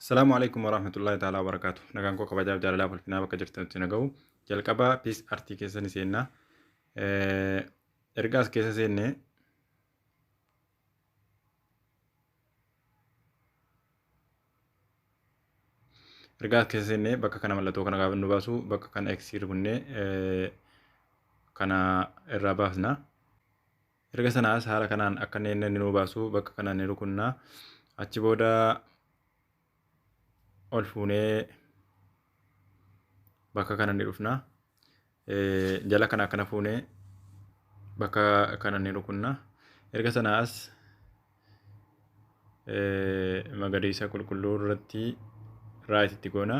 Assalaamu alaikum warahmatullahi ta'ala wabarakaatu. Nagaan koo kabajaaf jaalalaa ulfinaa bakka jirtanitti na gahu. Jalqabaa piis artii keessa ni seenna. Erga as keessa seenne erga as keessa seenne bakka kana mallattoo kana gaafa nu baasu bakka kana eksiir kunnee kana irraa baasna. Erga sanaas haala kanaan akka inni inni nuu baasu bakka kana ni rukunna. Achi booda ol fuunee bakka kana ni dhufna. Jala kana akkana fuunee bakka kana ni rukunna. Erga sanaas magariisa qulqulluu irratti raayit itti goona.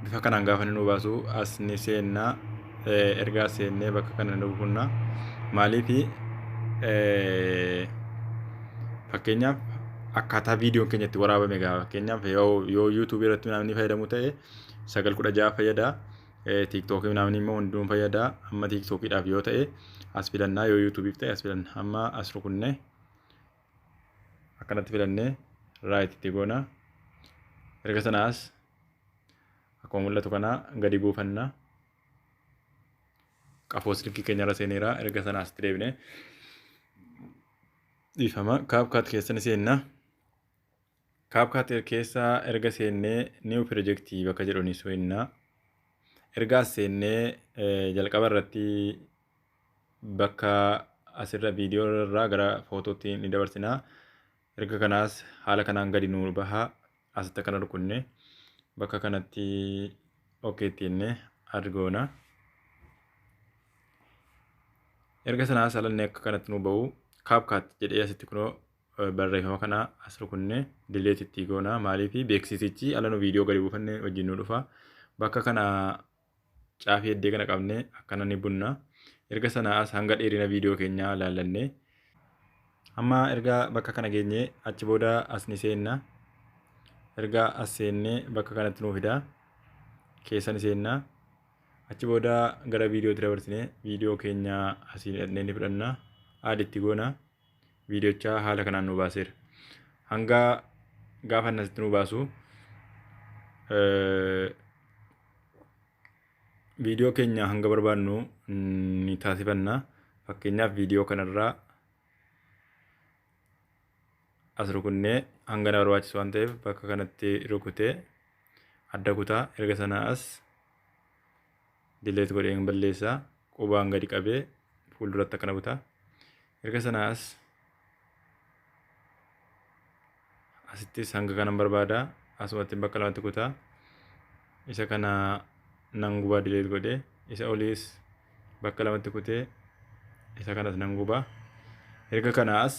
Bifa kanaan gaafa nu baasu as ni seenna. Ergaa seennee bakka kana nu buufna. Maaliif fakkeenyaaf akkaataa viidiyoon keenya itti waraabame gahaa fakkeenyaaf yoo yuutuubii irratti namni fayyadamu ta'e sagal kudha ja'a fayyada. TikTok namni immoo hunduun fayyada amma TikTok dhaaf yoo ta'e as filannaa yoo YouTube ta'e as filanna amma as rukunne akkanatti filannee right itti goona erga sana as akkuma mul'atu kana gadi buufanna qafoo silkii keenyarra seeneera erga sana asitti deebine dhiifama kaapkaat keessan seenna. CapCut keessa erga seennee New Project bakka jedhu ni seenna. Erga as seennee jalqaba irratti bakka asirra viidiyoo irraa gara footootti ni dabarsina. Erga kanaas haala kanaan gadi nu baha. Asitti akkana rukunne bakka kanatti OK itti jennee add goona. Erga sanaas alannee akka kanatti nu bahu CapCut jedhee asitti kunoo barreeffama kana as rukunne dileet itti goona maaliif beeksisichi ala nu viidiyoo gadi buufanne wajjin nu dhufa bakka kana caafii heddee kana qabne akkana ni bunna erga sana as hanga dheerina viidiyoo keenyaa laallanne amma erga bakka kana geenye achi booda as ni seenna erga as seenne bakka kanatti nu fida keessa ni seenna achi booda gara viidiyootti dabarsine viidiyoo keenya asiin dhaqnee ni fudhanna aaditti goona. viidiyochaa haala kanaan nu baaseera. Hanga gaafa inni asitti nu baasu viidiyoo keenya hanga barbaadnu ni taasifanna. Fakkeenyaaf viidiyoo kanarraa as rukunnee hanga na barbaachisu waan ta'eef bakka kanatti rukutee adda kutaa erga sanaa as delete godheen balleessa qubaan gadi qabee fuulduratti akkana buta erga sana as asittis hanga kanan barbaada asumatti bakka lamatti kutaa isa kana nan gubaa delete godhee isa oliis bakka lamatti kutee isa kanas nan gubaa erga kana as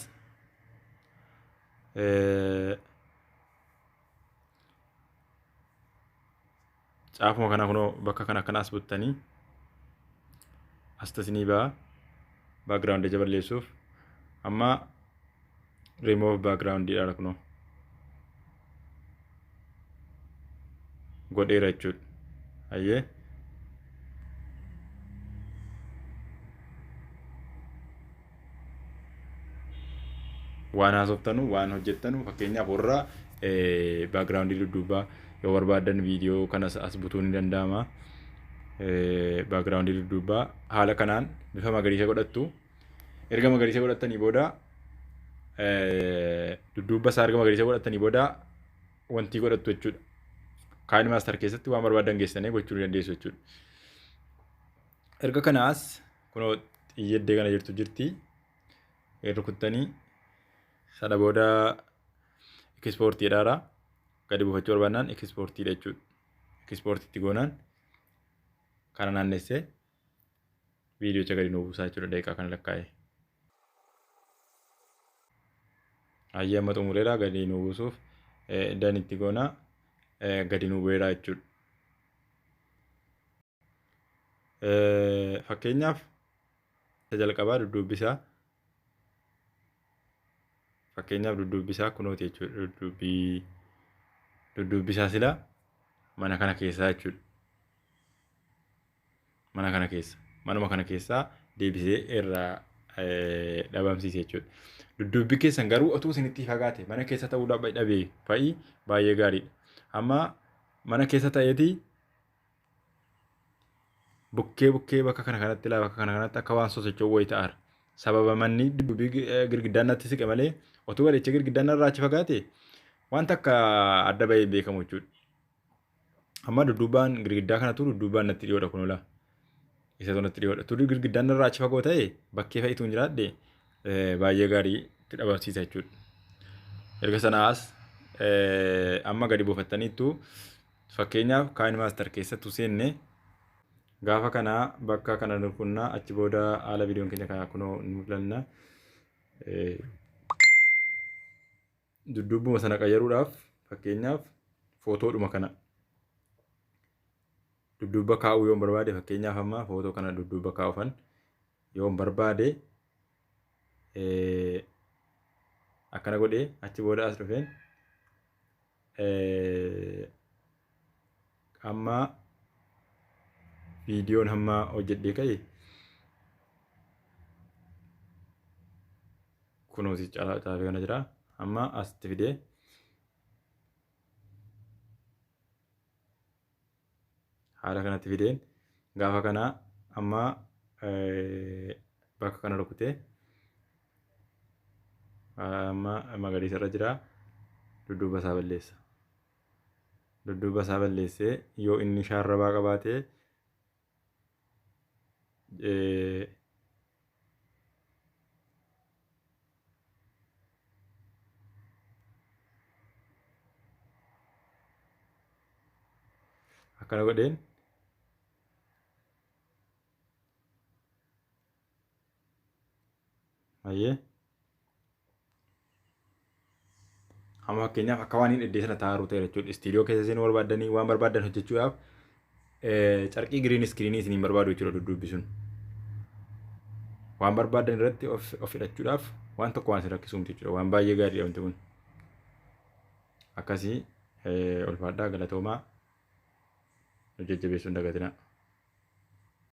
Caafuma kana kunoo bakka kana akkana as buttanii astas ni ba'a. Background ija balleessuuf. Amma remove background dha kunoo. Godheera jechuudha. Hayyee. waan haasoftanu waan hojjettanu fakkeenyaaf warra baakgiraawundii dudduubaa yoo barbaadan viidiyoo kanas as butuu ni danda'ama. Baakgiraawundii dudduubaa haala kanaan bifa magariisa godhattu. Erga magariisa godhattanii booda dudduubba isaa erga magariisa godhattanii booda wantii godhattu jechuudha. Kaayini maastar keessatti waan barbaadan geessanii gochuu ni dandeessu jechuudha. Erga kanaas kunoo xiyyeeddee kana jirtu jirti rukuttanii sana booda ekispoortii dhaara gadi buufachuu barbaannaan ekispoortii jechuudha. Ekispoortiitti goonaan kana naannessee viidiyocha gadi nuu buusaa jechuudha daqiiqaa kana lakkaa'ee. Hayyee amma xumureera gadi nuu buusuuf danitti goonaa gadi nuu bu'eera jechuudha. Fakkeenyaaf isa jalqabaa dudduubbisaa fakkeenyaaf dudduubbisaa kunooti jechuudha dudduubbii dudduubbisaa silaa mana kana keessaa jechuudha. Mana kana keessa manuma kana keessaa deebisee irraa dhabamsiise jechuudha. Dudduubbii keessan garuu otuu isinitti fagaate mana keessa ta'uu dhabee fa'i baay'ee gaariidha. Amma mana keessa ta'eeti bukkee bukkee bakka kana kanatti ilaa bakka kana kanatti akka waan sosocho'u wayii ta'aara. Sababa manni duddubii girgiddaan natti siqe malee otuu bareechee girgiddaan narraa achi fagaate waan takka adda bahee hin beekamu jechuudha. Amma dudduubaan girgiddaa kanatu dudduubaan natti dhiyoodha kun olaa. Isa sanatti dhiyoodha. Turri girgiddaan narraa achi fagoo ta'e bakkee fa'itu hin jiraadhe baay'ee gaarii itti dhabarsiisa jechuudha. Erga sanaas amma gadi buufattaniittu Fakkeenyaaf KineMaster keessatti utuu seenne gaafa kana bakka kana nu qunnaa achi booda haala viidiyoon keenya kana kunoo nu mul'anna. Dudduubbuma sana qayyaruudhaaf fakkeenyaaf footoodhuma kana dudduubba kaa'uu yoon barbaade fakkeenyaaf amma footoo kana dudduubba kaa'uufan yoon barbaade akkana godhee achi booda as dhufeen Amma viidiyoon hamma hojjedhee ka'e kunoo si caalaa caafee kana jira. Amma asitti fidee haala kanatti fideen gaafa kana amma bakka kana rukute amma magariisa irra jira dudduuba isaa balleessa dudduuba isaa balleessee yoo inni shaarrabaa qabaatee eh, akkana godheen Ayyee. Amma fakkeenyaaf akka waan hin iddee sana taa'aa ruuteera jechuudha. Istiidiyoo keessa seenuu barbaaddanii waan barbaaddan hojjechuudhaaf carqii giriin iskiriinii isiniin barbaadu jechuudha dudduubbisuun. Waan barbaaddan irratti of of hidhachuudhaaf waan tokko waan isin rakkisuu miti jechuudha. Waan baay'ee gaariidha wanti kun. Akkasii ulfaadhaa galatoomaa nu jajjabeessuu hin dagatinaa.